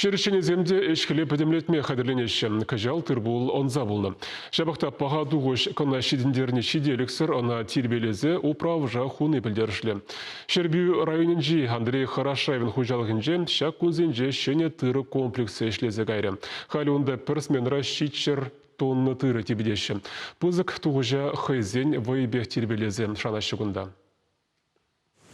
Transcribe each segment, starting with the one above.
Ҫӗр ӗҫченӗсем те ӗҫ-хӗле пӗтӗмлетме хатӗрленеҫҫӗ. Кӑҫал тыр-пул ӑнса пулнӑ. Ҫапах та паха тухӑҫ кӑна ҫитӗнтерни ҫителӗксӗр, ӑна тирпейлесе управӑша хуни пӗлтерӗшлӗ. Ҫӗрпӳ районӗнчи Андрей Хорошаевӑн хуҫалӑхӗнче ҫак кунсенче ҫӗнӗ тырӑ комплексӗ ӗҫлесе кайрӗ. Халӗ унта пӗр сменӑра ҫиччӗр тонна тырӑ типӗтеҫҫӗ. Пысӑк тухӑҫа хӑйсен вӑйӗпех тирпейлесе шанаҫҫӗ кунта.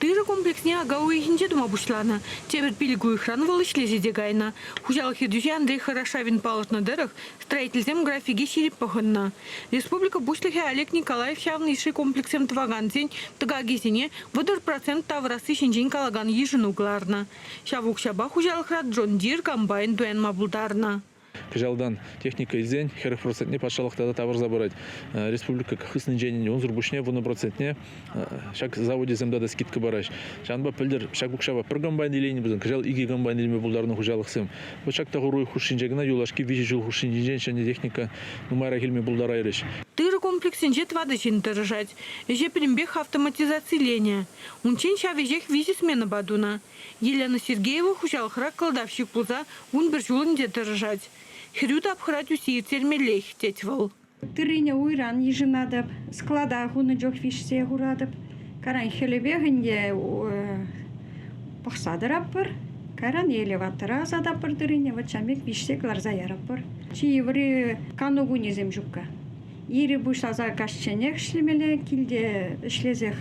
Тырӑ комплексне ака уйӑхӗнче тума пуҫланӑ. Тепӗр пилӗк уйӑхран вӑл ӗҫлесе те кайнӑ. Хуҫалӑх ертӳҫи Андрей Хорошавин палӑртнӑ тӑрӑх, строительсем графике ҫирӗп пӑхӑннӑ. Республика Пуҫлӑхӗ Олег Николаев ҫавӑн йышши комплекссем тӑвакансен тӑкакӗсене вӑтӑр процент тавӑрасси ҫинчен калакан йышӑну кӑларнӑ. Ҫав укҫапа хуҫалӑхра Джон Дир комбайн туянма пултарнӑ. Кӑҫалтан техника илсен хӗрӗх процентне патшалӑх тата тавӑрса парать. Республика хыснинчен унсӑр пуҫне вунӑ процентне ҫак заводесем тата скидка параҫҫӗ. Ҫавӑнпа пӗлтӗр ҫак укҫапа пӗр комбайн илейнӗ пулсан кӑҫал икӗ комбайн илме пултарнӑ хуҫалӑхсем. Вӑт ҫак тӑхӑру хушшинче кӑна юлашки виҫӗ ҫул хушшинчинчен ҫӗнӗ техника нумайрах илме пултарайрӗҫ. Тырӑ комплексӗнче тӑватӑ ҫын тӑрӑшать. Ӗҫе пӗтӗмпех автоматизациленӗ. Унччен ҫав ӗҫех виҫӗ сменӑпа тунӑ. Елена Сергеева хуҫалӑхра кӑлтавҫӑк пулса вун пӗр ҫул ӗнтӗ тӑрӑшать. Хӗрӳ тапхӑра тӳссе ирттермеллех, тет вӑл. Тыррине уйран йышӑнатӑп, склада хунӑ чух виҫсе хуратӑп. Кайран хӗлӗпех ӗнтӗ пӑхса тӑратпӑр. Кайран элеватора ӑсататпӑр тыррине, вӑт ҫамрӑк виҫсе кӑларса яратпӑр. Чи йывӑри кану кунӗсем ҫукка. Ири пуҫласа каҫченех ӗҫлемелле, килте ӗҫлесех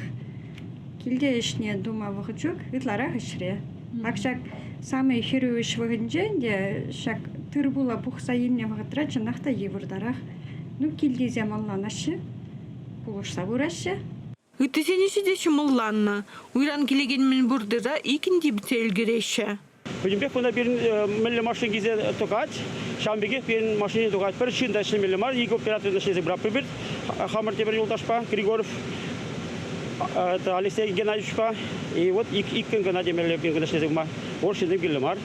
килте ӗҫне тума вӑхӑт ҫук, ытларах ӗҫре. Ак ҫак самый хӗрӳ ӗҫ вӑхӑтӗнчен те ҫак тыр-пула пухса илнӗ вӑхӑтра чӑнах та йывӑртарах. Ну, килти те манланаҫҫӗ, пулӑшса пыраҫҫӗ. Ыттисене ҫити ҫӑмӑлланнӑ. Уйран килекен мӗнпур тыта иккӗн типӗтсе ӗлкӗреҫҫӗ. Пӗтӗмпех кунта пирӗн мӗнле машина килсе тухать, ҫавӑн пекех пирӗн машине тухать. Пӗр ҫын та ӗҫлемелле мар. Икӗ оператор ӗҫлесе пыратпӑр пир. Хамӑр тепӗр юлташпа, Григоров, Алексей Геннадьевичпа, и вот иккӗн кӑна темелле пирӗн ӗҫлесе пыма. Вӑл ҫынсем кирлӗ мар.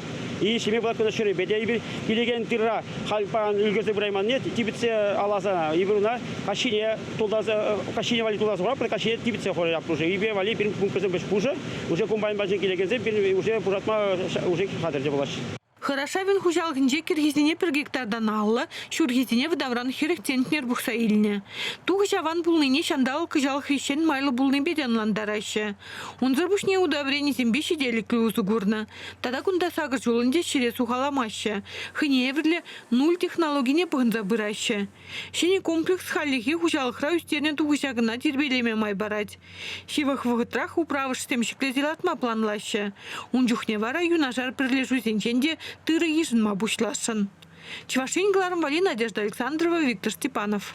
И ҫиме пулакан ҫӗрӗпе те эпир килекен тырра халь паян ӳкерсе пырайманни типӗтсе аласа эпир уна каҫхине тултарса каҫхине валли тултарса хураппӑр, каҫхине типӗтсе хурать Аптушӗ. Ипе валли пирӗн пункткӑсем пӗҫ пушӑ. Уже комбайн патне килекенсем пирӗн уже пушатма уже хатӗрче пулаҫҫӗ. Хорошавин хуҫалӑхӗнче кӗрхисене пӗр гектартан алӑ, ҫурхисене вӑтавран хӗрӗх центнер пухса илнӗ. Тухӑҫ аван пулнине ҫанталӑк кӑҫалах хресчен майлӑ пулнипе те ӑнлантараҫҫӗ. Унсӑр пуҫне удобренисемпе ҫителӗклӗ усӑ курнӑ. Тата кунта сакӑр ҫулӑн те ҫӗре сухаламаҫҫӗ. Хӑйне евӗрлӗ нуль технологине пӑхӑнса пыраҫҫӗ. Ҫӗнӗ комплекс хальлӗхе хуҫалӑхра ӳстернӗ тухӑҫа кӑна тирпейлеме май парать. Ҫывӑх вӑхӑтрах управӑшсем ҫӗклесе лартма планлаҫҫӗ. Ун чухне вара юнашар пӗрлешӳсенчен те тырӑ йышӑнма пуҫласшӑн. Чӑваш Ен кӑларӑмвӗ Надежда Александрова, Виктор Степанов.